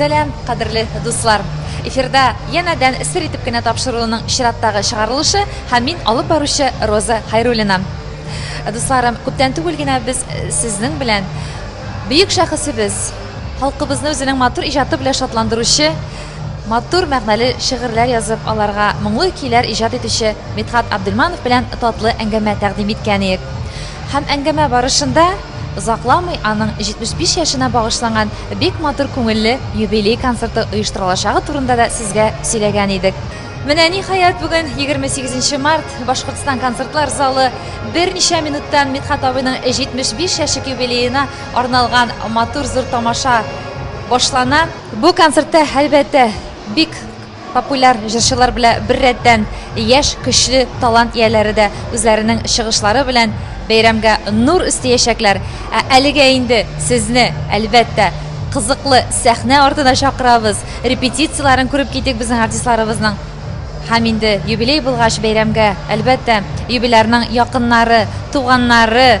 Сәлам, кадерле дуслар! Эфирда янәдән сер итеп кенә тапшыруының чираттагы чыгарылышы һәм мин алып баручы Роза Хайруллина. Дусларым, күптән түгел генә без э, сезнең белән бөек шәхесебез, халкыбызны үзенең матур иҗаты белән шатландыручы, матур мәгънәле шигырьләр язып, аларга моңлы көйләр иҗат итүче Мидхат Абдельманов белән татлы әңгәмә тәкъдим иткән идек. Һәм әңгәмә барышында Озакламый аның 75 яшенә багышланган бик матур күңелле юбилей концерты оештырылачагы турында да сезгә сөйләгән идек. Менә ниһаять бүген 28 март Башкортстан концертлар залы берничә минуттан Мидхәт абыйның 75 яшек юбилеена арналган матур зур тамаша башлана. Бу концертта, әлбәттә, бик Популяр җырчылар белә беррәттән яшь, көчле талант ияләре дә үзләренең чыгышлары белән бәйрәмгә нур өстиячәкләр. Ә әлегә инде сезне, әлбәттә, кызыклы сәхнә артына чакырабыз. Репетицияләрен күреп китик безнең артистларыбызның. Һәм инде юбилей булгач, бәйрәмгә, әлбәттә, юбилярның якыннары, туганнары,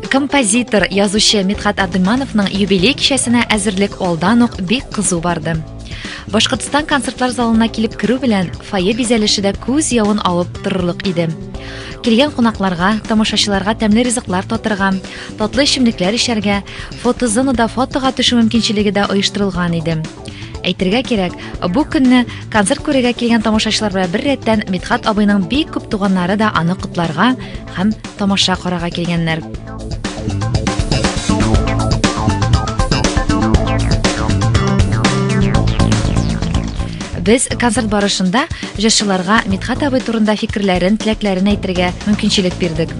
Композитор, язучы Митхат Абдимановның юбилей кичәсенә әзерлек алдан ук бик кызу барды. Башкортстан концертлар залына килеп керү белән фойе бизәлеше дә күз явын алып торырлык иде. Килгән кунакларга, тамашачыларга тәмле ризыклар татырга, татлы эчемлекләр эчәргә, фотозонада фотога төшү мөмкинчелеге дә оештырылган иде. Әйтергә кирәк, бу көнне концерт күрергә килгән тамашачылар белән бер рәттән Митхат абыйның бик күп туганнары да аны котларга, һәм тамаша карага килгәннәр. Без концерт барышында җырчыларга Митхат абый турында фикерләрен, теләкләрен әйтергә мөмкинчелек бирдек.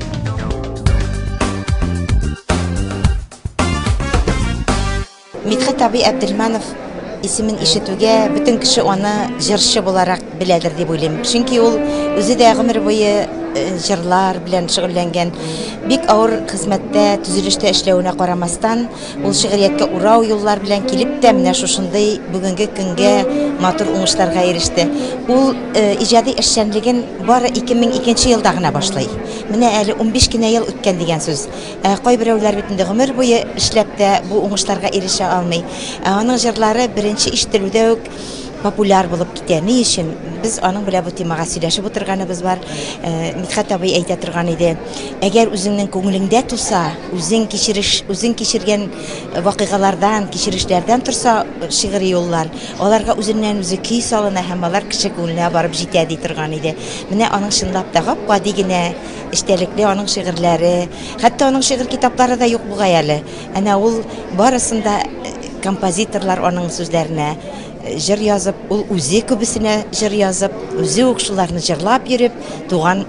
Мидхәт абый Әбделманов исемен ишетүгә бөтен кеше аны җырчы буларак беләдер дип уйлыйм. Чөнки ул үзе дә гомер буе э, җырлар белән шөгыльләнгән. Бик авыр хезмәттә, төзелештә эшләвенә карамастан, ул шигърияткә урау юллар белән килеп тә менә шушындый бүгенге көнгә матур уңышларга иреште. Ул э, иҗади эшчәнлеген бары 2002 елда гына башлый. Менә әле 15 кенә ел үткән дигән сүз. Ә кайберәүләр бит инде гомер буе эшләп тә бу уңышларга ирешә алмый. Ә аның җырлары беренче ишетелүдә үк популяр булып китә. Ни өчен? Без аның белән бу темага сөйләшеп утырганыбыз бар. Э, Мидхәт абый әйтә торган иде, әгәр үзеңнең күңелеңдә туса, үзең кичереш, үзең кичергән вакыйгалардан, кичерешләрдән торса шигъри юллар, аларга үзеннән-үзе көй салына һәм алар кеше күңеленә барып җитә, ди торган иде. Менә аның чынлап та гап-гади генә Эчтәлекле аның шигырьләре, хәтта аның шигырь китаплары да юк бугай әле. Әнә ул барысын да э, композиторлар аның сүзләренә э, җыр язып, ул үзе күбесенә җыр язып, үзе үк шуларны җырлап йөреп, туган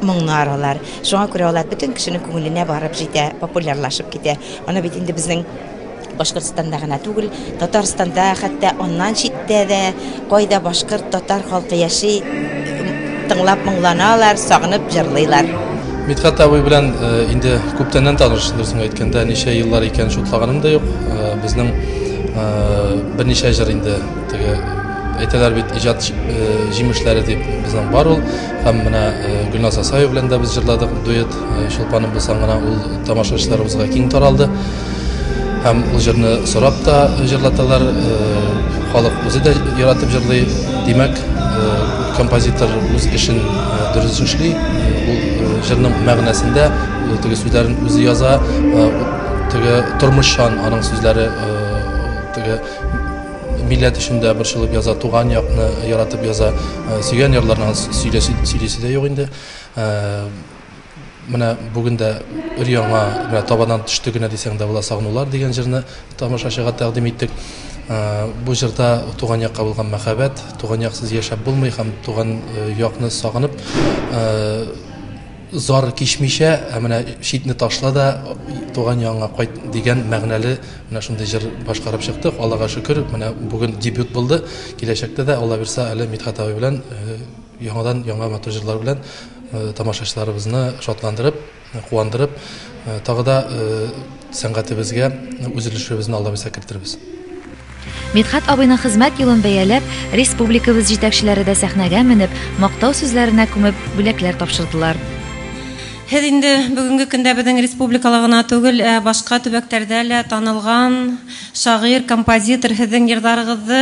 моңнар алар. Шуңа күрә алар бөтен кешенең күңеленә барып җитә, популярлашып китә. Аны бит инде безнең Башкортстанда гына түгел, Татарстанда, хәтта аннан читтә дә, кайда башкорт, татар халкы яши, тыңлап моңланалар, сагынып җырлыйлар. Мидхәт абый белән э, инде күптәннән таныш, дөресен әйткәндә, ничә еллар икән шутлаганым да юк. Э, безнең э, берничә җыр инде теге әйтәләр бит иҗат җимешләре дип безнең бар ул һәм менә Гөлназ Асаева белән дә без җырладык дуэт Чулпаным булсаң гына ул тамашачыларыбызга киң таралды. Һәм ул җырны сорап та җырлаталар, халык үзе дә яратып җырлый. Димәк, композитор үз эшен дөрес эшли, ул җырның мәгънәсендә, ул теге сүзләрен үзе яза, теге тормышчан аның сүзләре, теге милләт өчен дә борчылып яза, туган якны яратып яза, сөйгән ярларына сөйлисе дә юк инде. Менә бүген дә өр-яңа менә табаннан төште генә дисәң дә була сагынулар дигән җырны тамашачыга тәкъдим иттек. Бу җырда туган якка булган мәхәббәт, туган яксыз яшәп булмый һәм туган якны сагынып зар кичмичә, ә менә читне ташла да туган ягыңа кайт дигән мәгънәле менә шундый җыр башкарып чыктык. Аллага шөкер, менә бүген дебют булды. Киләчәктә дә Алла бирса әле Мидхәт абый белән Яңадан яңа матур җырлар белән тамашачыларыбызны шатландырып, куандырып, тагы да сәнгатебезгә үз өлешебезне Алла бирсә кертербез. Мидхәт абыйның хезмәт юлын бәяләп, республикабыз җитәкчеләре дә сәхнәгә менеп, мактау сүзләренә күмеп, бүләкләр тапшырдылар. Һез инде бүгенге көндә безнең республикала гына түгел, ә башка төбәктәрдә лә танылган шагыйрь, композитор, һезең җырларыгызы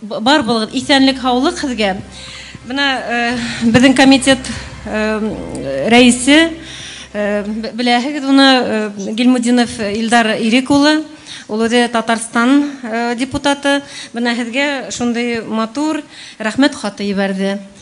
Бар булыгыз, исәнлек һаулык сезгә. Менә безнең комитет рәисе, беләһегез уны, Гилмудинов Илдар Ирек улы. Ул үзе Татарстан депутаты. Менә сезгә шундый матур рәхмәт хаты җибәрде.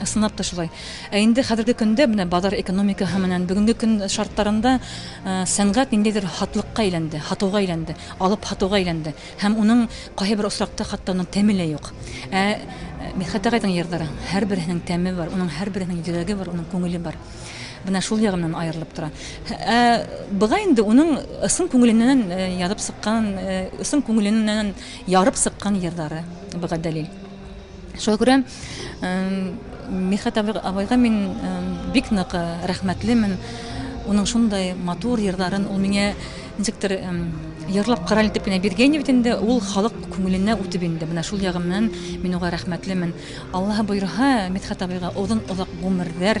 Ысынлап та шулай. Ә инде хәзерге көндә менә базар экономикаһы менән бүгенге көн шартларында сәнгать ниндидер хатлыкка әйләнде, хатуга әйләнде, алып хатуга әйләнде. Һәм уның кайбер очракта хәтта уның тәме лә юк. Ә Мидхәт агайның җырлары һәрберсенең тәме бар, уның һәрберсенең йөрәге бар, уның күңеле бар. Менә шул ягы менән аерылып тора. Ә быга инде уның ысын күңеленнән язып сыккан, ысын күңеленнән ярып сыккан җырлары быга дәлил. Шуңа күрә Михат абыйга мин бик нык рәхмәтлемен. Уның шундай матур җырларын ул миңа ничектер җырлап карале итеп кенә биргән бит инде. Ул халык күңеленә үтеп инде. Менә шул ягы белән мин уга рәхмәтлемен. Аллаһы боерһа, Михат абыйга озын озак гомерләр,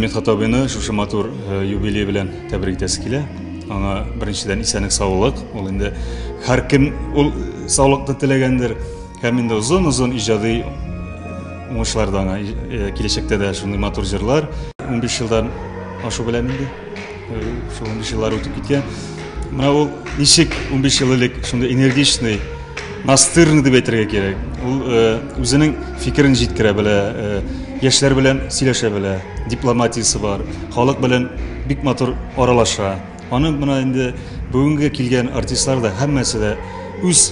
Медхат абыйны шушы матур э, юбилей белән тәбрик итәсе килә. Аңа беренчедән исәнлек саулык. Ул инде һәр кем ул саулыкны теләгәндер. Һәм инде озын-озын иҗади уңышлар да аңа э, киләчәктә дә шундый матур җырлар. 15 елдан ашу белән инде э, шул 15 еллар үтеп киткән. Менә ул ничек 15 ел элек шундый энергичный Настырный дип әйтергә кирәк. Ул э, үзенең фикерен җиткерә белә, э, яшьләр белән сөйләшә белә, дипломатиясе бар, халык белән бик матур аралаша. Аны менә инде бүгенге килгән артистлар да һәммәсе дә үз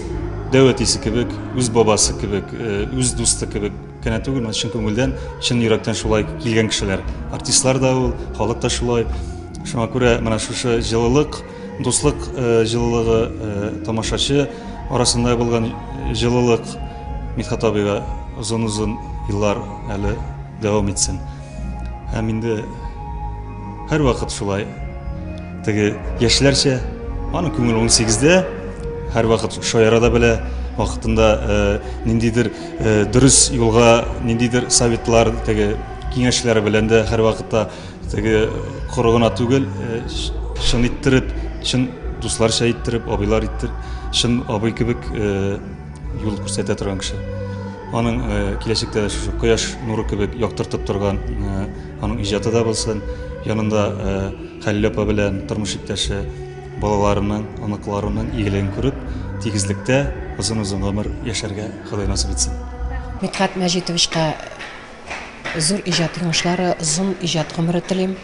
дәүәтисе кебек, үз бабасы кебек, э, үз дусты кебек кенә түгел, менә чын күңелдән, чын йөрәктән шулай килгән кешеләр. Артистлар да ул, халык та шулай. Шуңа күрә менә шушы җылылык, Дуслык җылылыгы, тамашачы арасында булган җылылык Мидхат абыйга озын-озын еллар әле дәвам итсен. Һәм инде һәрвакыт шулай теге яшьләрчә аның күңеле 18-дә, һәрвакыт шаяра да белә, вакытында ниндидер дөрес юлга, ниндидер советлар, теге киңәшләр белән дә һәрвакытта Теге коры гына түгел, э, чын иттереп, чын дусларча иттереп, абыйлар иттер, чын абый кебек э, юл күрсәтә торган кеше. Аның э, киләчәктә шушы кояш нуры кебек яктыртып торган аның иҗаты да булсын. Янында Хәлил апа белән тормыш иптәше балаларының, оныкларының игелеген күреп, тигезлектә озын-озын гомер яшәргә Ходай насып итсен. Митхат Мәҗитовичка Зур иҗат йомышлары, озын иҗат гомере телим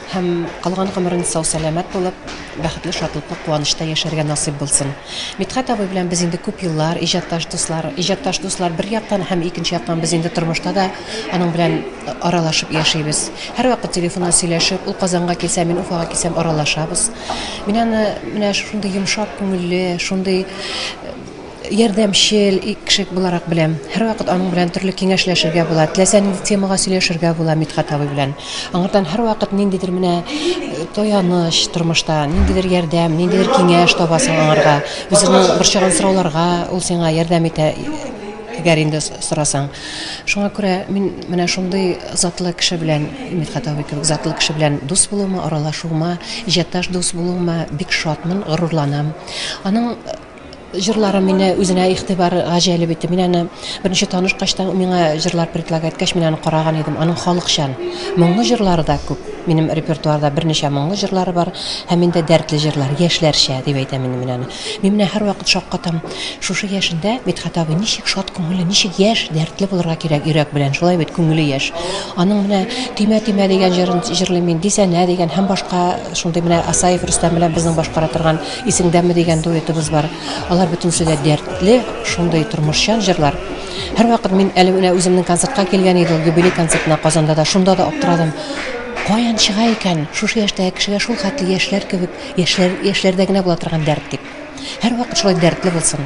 һәм калган гомерен сау-сәламәт булып, бәхетле, шатлыклы, куанычта яшәргә насыйп булсын. Мидхәт абый белән без инде күп еллар иҗатташ дуслар. Иҗатташ дуслар бер яктан һәм икенче яктан без инде тормышта да аның белән аралашып яшибез. Һәрвакыт телефоннан сөйләшеп, ул Казанга килсә, мин Уфага килсәм, аралашабыз. Мин аны менә шушындый йомшак күңелле, шундый ярдәмчел кеше буларак беләм. Һәрвакыт аның белән төрле киңәшләшергә була. Теләсә нинди темага сөйләшергә була Мидхәт абый белән. Аңардан һәрвакыт ниндидер менә э, таяныч тормышта, ниндидер ярдәм, ниндидер киңәш табасың аңарга. Үзеңнең борчыган сорауларга ул сиңа ярдәм итә әгәр инде сорасаң. Шуңа күрә мин менә шундый затлы кеше белән, Мидхәт абый кебек затлы кеше белән дус булуыма, аралашуыма, иҗатташ дус булуыма бик шатмын, горурланам. Аның Җырлары мине үзенә игътибар гаҗәлеп итте. Мин аны беренче танышкач та миңа җырлар предлагать иткәч, мин аны караган идем. Аның халыкчан, моңлы җырлары да күп. Минем репертуарда берничә моңлы җырлары бар һәм инде дәртле җырлар, яшьләрчә дип әйтәм инде мин аны. Мин менә һәрвакыт шаккатам, шушы яшендә Мидхәт абый ничек шат күңелле, ничек яшь, дәртле булырга кирәк йөрәк белән, шулай бит, күңеле яшь. Аның менә Төймә төймә дигән җырын җырлыйм мин, Дисәнә дигән һәм башка шундый менә Асаев Рөстәм белән безнең башкара торган Исеңдәме дигән дуэтыбыз бар. Алар бөтенесе дә дәртле, шундый тормышчан җырлар. Һәрвакыт мин әле менә үземнең концертка килгән иде ул юбилей концертына Казанда да, шунда да аптырадым. Каян чыга икән шушы яшьтәге кешегә шул хәтле яшьләр кебек, яшьләр, яшьләрдә генә була торган дәрт дип. Һәрвакыт шулай дәртле булсын.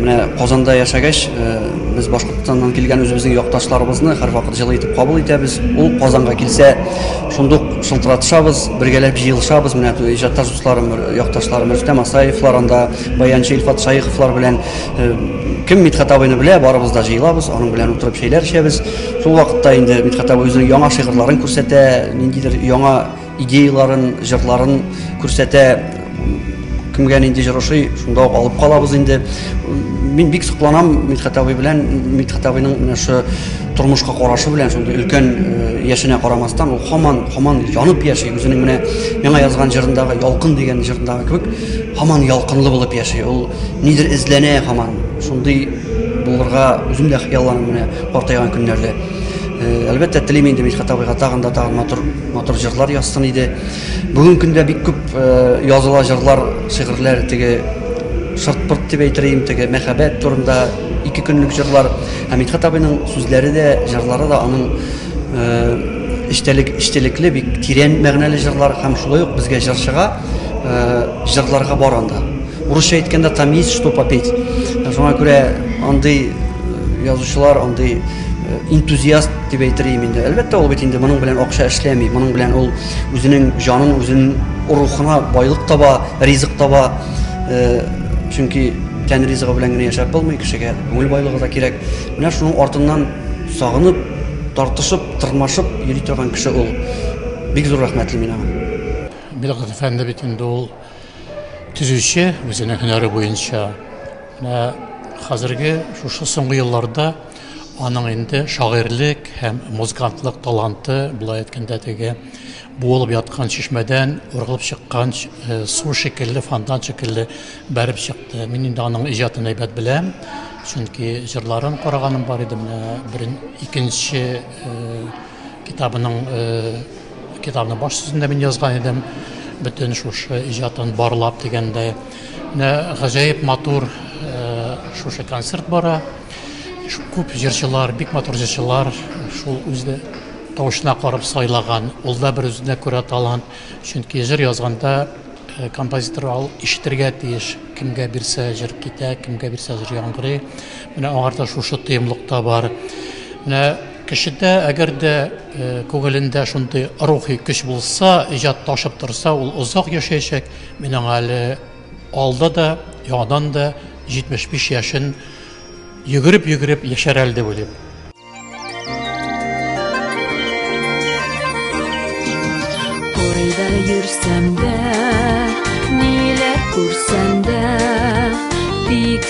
Менә Казанда яшәгәч, э, без Башкортстаннан килгән үзебезнең якташларыбызны һәрвакыт җылы итеп кабул итәбез. Ул Казанга килсә, шундук шылтыратышабыз, бергәләп җыелышабыз. Менә иҗатташ дусларым, якташларым Рөстәм Асаевлар анда, баянчы Илфат Шаиховлар белән э, кем Мидхат абыйны белә, барыбыз да җыелабыз, аның белән утырып чәйләр эчәбез. Шул вакытта инде Мидхәт абый үзенең яңа шигырьләрен күрсәтә, ниндидер яңа идеяларын, җырларын күрсәтә. Кемгә нинди җыр ошый, шунда ук алып калабыз инде. Мин бик сокланам Мидхәт абый белән, Мидхәт абыйның менә шы тормышка карашы белән, шундый өлкән э, яшенә карамастан, ул хаман, хаман янып яши, үзенең менә яңа язган җырындагы Ялкын дигән җырындагы кебек, хаман ялкынлы булып яши. Ул нидер эзләнә хаман. Шундый булырга үзем дә хыялланам менә. Картайган көннәрдә, әлбәттә, телим инде Мидхәт абыйга тагын да тагын матур, матур җырлар язсын иде. Бүген көндә бик күп языла җырлар, шигырьләр теге шырт-пырт дип әйтергә теге мәхәббәт турында ике көнлек җырлар. Һәм Мидхәт абыйның сүзләре дә, җырлары да аның эчтәлек, эчтәлекле, бик тирән мәгънәле җырлар һәм шулай ук безгә җырчыга җырларга бар анда. Урысча әйткәндә там есть что попеть. Шуңа күрә андый язучылар, андый энтузиаст дип әйтер идем инде. Әлбәттә, ул бит инде моның белән акча эшләми, моның белән ул үзенең җанын, үзенең рухына байлык таба, ризык таба. Чөнки тән ризыгы белән генә яшәп булмый, кешегә күңел байлыгы да кирәк. Менә шуның артыннан сагынып, тартышып, тырмашып йөри торган кеше ул. Бик зур рәхмәтле мин аңа. Билгыз әфәнде бит инде ул Төзүче үзенең һөнәре буенча менә хәзерге шушы соңгы елларда аның инде шагыйрьлек һәм музыкантлык таланты, былай әйткәндә, теге буылып яткан чишмәдән ургылып чыккан э, су шикелле, фонтан шикелле бәреп чыкты. Мин инде аның иҗатын әйбәт беләм, чөнки җырларын караганым бар иде менә икенче э, китабының китабының баш сүзендә мин язган идем бөтен шушы иҗатын барлап дигәндә менә гаҗәеп матур шушы концерт бара күп җырчылар бик матур җырчылар шул үзе тавышына карап сайлаган ул да бер үзенә күрә талант чөнки җыр язганда э, композитор ал ишетергә тиеш кемгә бирсә җыр китә кемгә бирсә җыр яңгырый менә аңарда шушы тоемлык та бар менә Кешедә әгәр дә күңелендә шундый рухи көч булса, иҗат ташып торса, ул озак яшәячәк. Мин аңа әле алда да, яңадан да 75 яшен йөгереп-йөгереп яшәр әле дип уйлыйм. Кайда йөрсәм дә, ниләр күрсәм дә, тик.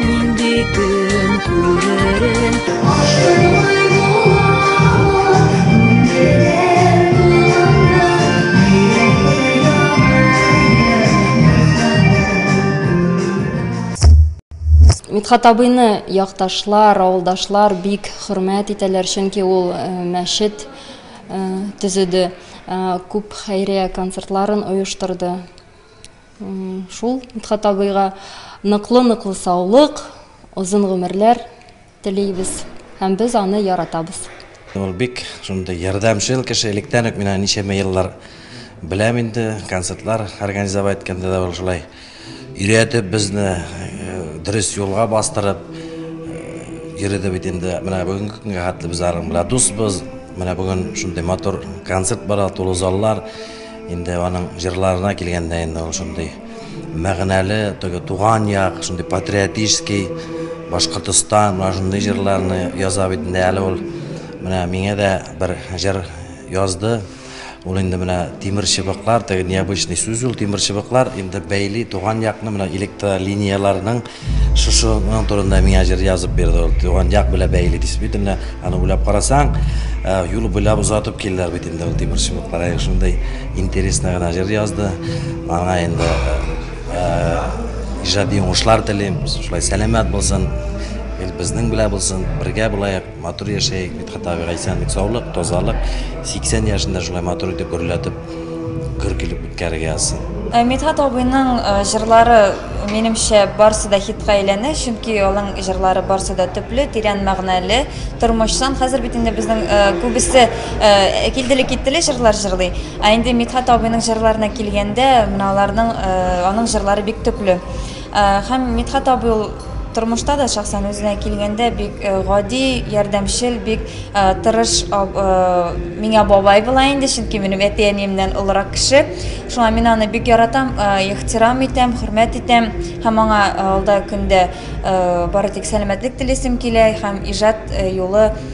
Нинди көн күререн Мидхат абыйны якташлар, авылдашлар бик хөрмәт итәләр, чөнки ул э, мәчет э, төзеде, э, күп хәйрия концертларын оештырды. Шул Мидхат абыйга ныклы-ныклы саулык, озын гомерләр телибез һәм без аны яратабыз. Ул бик шундый ярдәмчел кеше, электән үк мин аны ничәмә еллар беләм инде, концертлар организовать иткәндә дә ул шулай өйрәтеп безне э, дөрес юлга бастырып э, йөрде бит инде. Менә бүгенге көнгә хәтле без аның белән дусбыз. Менә бүген шундый матур концерт бара, тулы заллар. Инде аның җырларына килгәндә инде ул шундый мәгънәле, теге туган як, шундый патриотический, Башкортостан, менә шундый җырларны яза бит инде әле ул. Менә миңа да бер җыр язды. Ул инде менә тимер чыбыклар, теге необычный сүз ул, тимер чыбыклар инде бәйли туган якны, менә электролинияләрнең Шушы моның турында миңа җыр язып бирде ул. Туган як белән бәйле действительно. Аны уйлап карасаң, э, юл буйлап озатып килделәр бит инде ул тимерчене караек. Шундый интересно гына җыр язды. Аңа инде э, э, иҗади уңышлар телим. Шулай сәламәт булсын. Ил безнең белән булсын. Бергә булаек. Матур яшәйек, Мидхәт абыйга исәнлек, саулык, тазалык, 80 яшендә шулай матур итеп гөрләтеп, гөр килеп үткәрергә язсын. Э, Мидхәт абыйның э, җырлары, минемчә, барсы да хитка әйләнә, чөнки алың җырлары барсы да төпле, тирән мәгънәле, тормышчан. Хәзер бит инде безнең э, күбесе килделе киттеле җырлар җырлый. Ә инде Мидхәт абыйның җырларына килгәндә, менә аларның аның җырлары бик төпле. Һәм Мидхәт абый ул тормышта да, шәхсән үзенә килгәндә, бик гади, ярдәмчел, бик тырыш миңа бабай була инде, чөнки минем әти-әниемнән олырак кеше. Шуңа мин аны бик яратам, ихтирам итәм, хөрмәт итәм һәм аңа алда көндә бары тик сәламәтлек телисем килә һәм иҗат юлы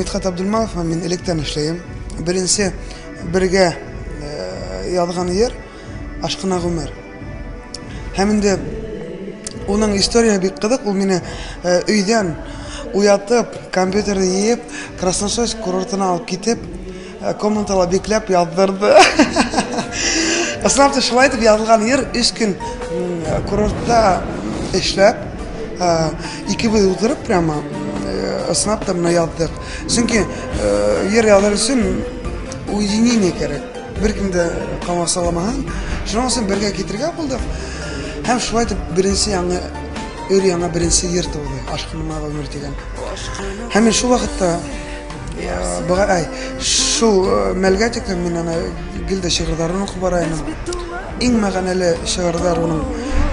Мидхәт Абдулманов, мин электән эшләем. Беренче бергә э, язган җыр Ашкына гомер. Һәм инде уның история бик кызык, ул мине э, өйдән уятып, компьютерны йыеп, Красносойск курортына алып китеп, Ә комментала бикләп яздырды. Ысынлап та шулай итеп язылган йыр өч көн курортта эшләп, икебез утырып прямо ысынлап та менә яздык. Чөнки йыр язар өчен уединение кирәк. Беркем дә камасаламаган. Шуның өчен бергә китергә булдык. Һәм шулай итеп беренче яңа өр яңа беренче йыр туды. Ашкынма гомер дигән. Һәм шул вакытта Быга әй, шул э, мәлгә тиклем мин аны гел дә шигырьләрен укып бара идем. Иң мәгънәле шигырьләр уның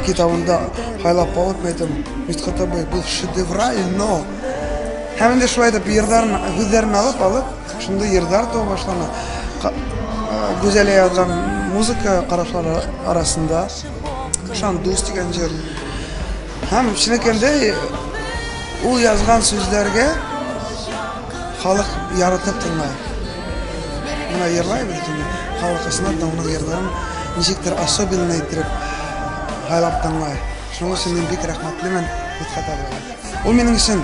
китабында хайлап алып мәйтем. Мисхата бай бу шедевраль, но һәм инде шулай да йырдарын һүзләрен алып алып, шунда йырдар туа башлана. Э, Гүзәлә язган музыка карашлары арасында Шандус дигән җыр Һәм чыныкендәй ул язган сүзләргә халык яратып тыңлай. Менә ерлайбыз инде. Халык исенә тыңлый ерларын ничектер особенно итеп һайлап тыңлай. Шуның өчен мин бик рәхмәтлемен Мидхәт абыйга. Ул минем өчен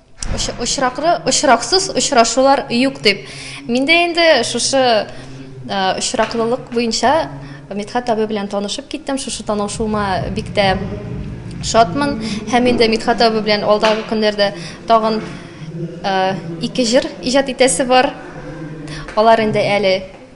Очраклы, очраксыз очрашулар юк дип. Мин дә инде шушы очраклылык буенча Мидхәт абый белән танышып киттем. Шушы танышуыма бик тә шатмын. Һәм инде Мидхәт абый белән алдагы көннәрдә тагын ике җыр иҗат итәсе бар. Алар инде әле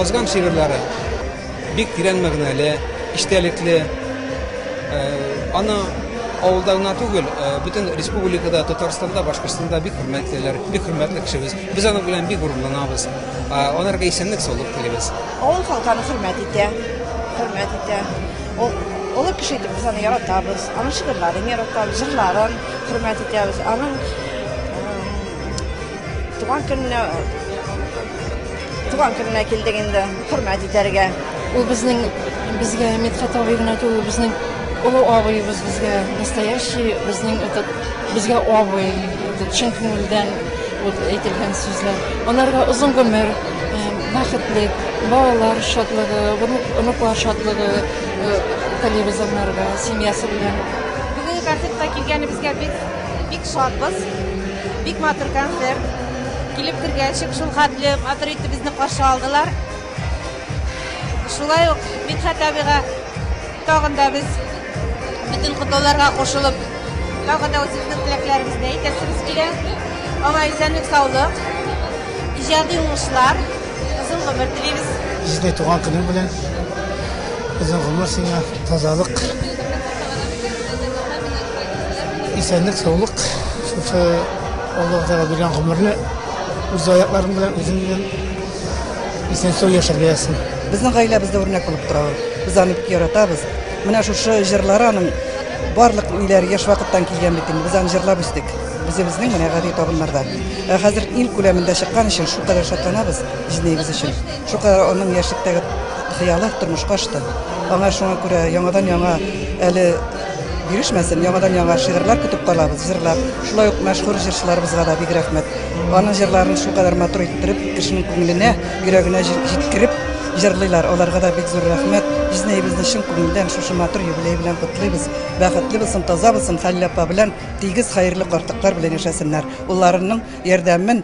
язган шигырьләре бик тирән мәгънәле, эчтәлекле. Э, аны авылда гына түгел, э, бөтен республикада, Татарстанда, Башкортстанда бик хөрмәтлеләр, бик хөрмәтле кешебез. Без аның белән бик горурланабыз. Аларга исәнлек саулык телибез. Авыл халкы аны хөрмәт итә, хөрмәт итә. Ул олы кеше итеп без аны яратабыз, аның шигырьләрен яратабыз, җырларын хөрмәт итәбез, аның туган көненә туган көненә килдек инде, хөрмәт итәргә. Ул безнең безгә Мидхәт абый гына түгел, безнең олы абыебыз безгә настоящий, безнең этот безгә абый, чын күңелдән Ут әйтелгән сүзләр. Аларга озын гомер, бәхетлек, балалар шатлыгы, оныклар шатлыгы телибез анарга, семьясы белән. Бүгенге концертка килгәнебезгә бик бик шатбыз. Бик матур концерт. Килеп кергәчек шул хәтле матур итеп безне каршы алдылар. Шулай ук Мидхәт абыйга Тагын да без бөтен котлауларга кушылып, тагын да үзебезнең теләкләребезне әйтәсебез килә. Аңа исәнлек, саулык, иҗади уңышлар, озын гомер телибез. Җиде туган көнең белән. Озын гомер сиңа, тазалык. Исәнлек, саулык. Шушы Аллаһ Тәгалә биргән гомерне үз аякларың белән үзең белән Исән-сау яшәргә язсын. Безнең гаиләбездә үрнәк булып тора ул. Без аны бик яратабыз. Менә шушы җырлары аның барлык ниләр яшь вакыттан килгән бит инде. Без аны җырлап үстек. Үзебезнең менә гади табыннарда. Ә хәзер ил күләмендә чыккан өчен шулкадәр шатланабыз җизнәебез өчен. Шулкадәр аның яшьлектәге хыялы тормышка ашты. Аңа шуңа күрә яңадан-яңа әле Бирешмәсен, яңадан-яңа шигырьләр көтеп калабыз, җырлар. Шулай ук мәшһүр җырчыларыбызга да бик рәхмәт. Аның җырларын шулкадәр матур иттереп, кешенең күңеленә, йөрәгенә җиткереп җырлыйлар. Аларга да бик зур рәхмәт. Җизнәебезне чын күңелдән шушы матур юбилей белән котлыйбыз. Бәхетле булсын, таза булсын, Хәлил апа белән тигез, хәерле картыклар белән яшәсеннәр. Улларының ярдәмен,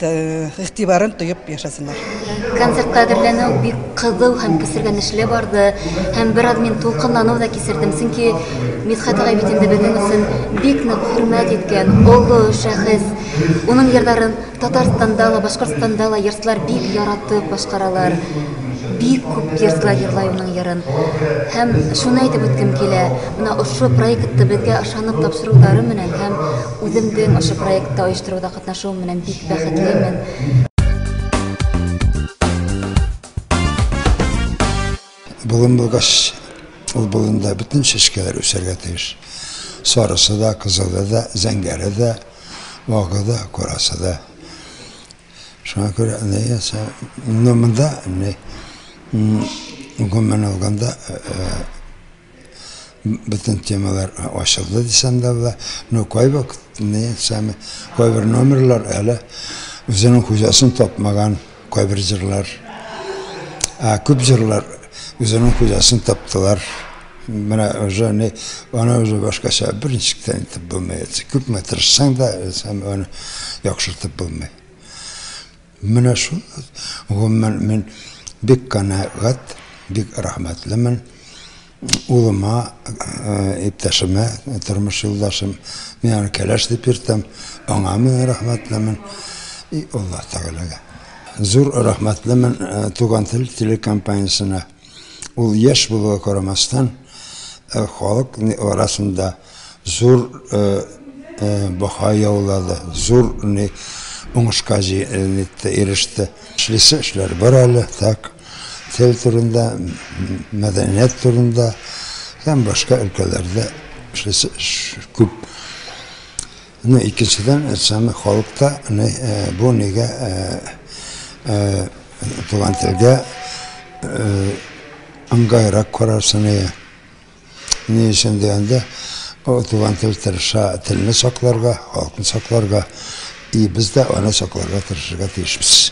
игътибарын тоеп яшәсеннәр. Концертта әзерләнү бик кызу һәм кисергәнешле барды. Һәм бераз мин тулкынлану да кисердем, чөнки Мидхәт агай бит инде безнең өчен бик нык хөрмәт иткән олы шәхес. Уның җырларын Татарстанда ла, Башкортстанда ла йортлар бик яратып башкаралар. Бик күп йортлар җырлай уның җырын. Һәм шуны әйтеп үткем килә, менә ошо проектты безгә ышанып тапшырулары менән һәм Үземдең ошо проектта оештыруда катнашуым менән бик бәхетлемен. Болын булгач, ул болында бөтен чәчкәләр үсәргә тиеш. Сарысы да, кызылы да, зәңгәре дә, вагы да, корасы да. Шуңа күрә нәясә, но монда не гомумән алганда Бөтен темалар ачылды дисәм дә була. Но кайвакыт не сами кайбер номерлар әле үзенең хуҗасын тапмаган кайбер җырлар. Ә күп җырлар үзенең хуҗасын таптылар. Менә уже не аны уже башкача берничек тә итеп булмый. Күпме тырышсаң да, сам аны яхшыртып булмый. Менә шул, гомумән, мин бик канәгать, бик рәхмәтлемен. Улыма, иптәшемә, тормыш юлдашым, мин аны кәләш дип йөртәм, аңа мин рәхмәтлемен. И Аллаһ Тәгаләгә. Зур рәхмәтлемен Туган тел телекомпаниясенә. Ул яшь булуга карамастан, э, халык арасында зур э, э, баха яулады, зур не уңышка җитте, иреште. Эшлисе эшләр бар әле, так, тел турында, мәдәният турында һәм башка өлкәләрдә эшлисе эш күп. Ну икенчедән әйтсәм халыкта ни бу нигә туган телгә ыңгайрак карарсы ни ни өчен дигәндә туган тел тырыша телне сакларга халыкны сакларга и без дә аны сакларга тырышырга тиешбез.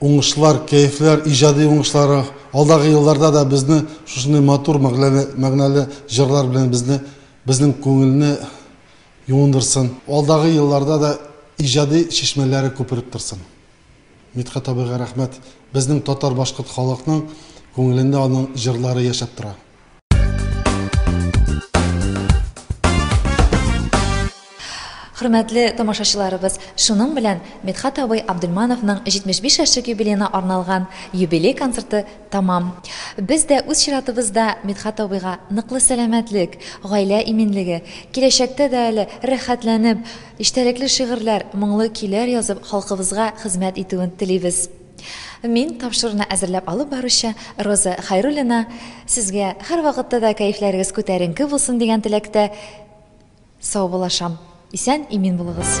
Уңышлар, кәефләр, иҗади уңышлары, алдагы елларда да безне шушындый матур мәгъләле, мәгънәле җырлар белән безне, безнең күңелне юындырсын. Алдагы елларда да иҗади чишмәләре күпереп торсын. Мидхәт абыйга рәхмәт. Безнең татар-башкорт халыкның күңелендә аның җырлары яшәп тора. Хөрмәтле тамашачыларыбыз, шуның белән Медхат абый Абдулмановның 75 яшьлек юбилеена арналган юбилей концерты тамам. Без дә үз чиратыбызда Медхат абыйга ныклы сәламәтлек, гаилә иминлеге, киләчәктә дә әле рәхәтләнеп, иштәлекле шигырьләр, моңлы көйләр язып, халкыбызга хезмәт итүен телибез. Мин тапшыруны әзерләп алып баручы Роза Хайруллина сезгә һәрвакытта да кәефләрегез күтәренке булсын дигән теләктә саубуллашам. Исән, имин булыгыз.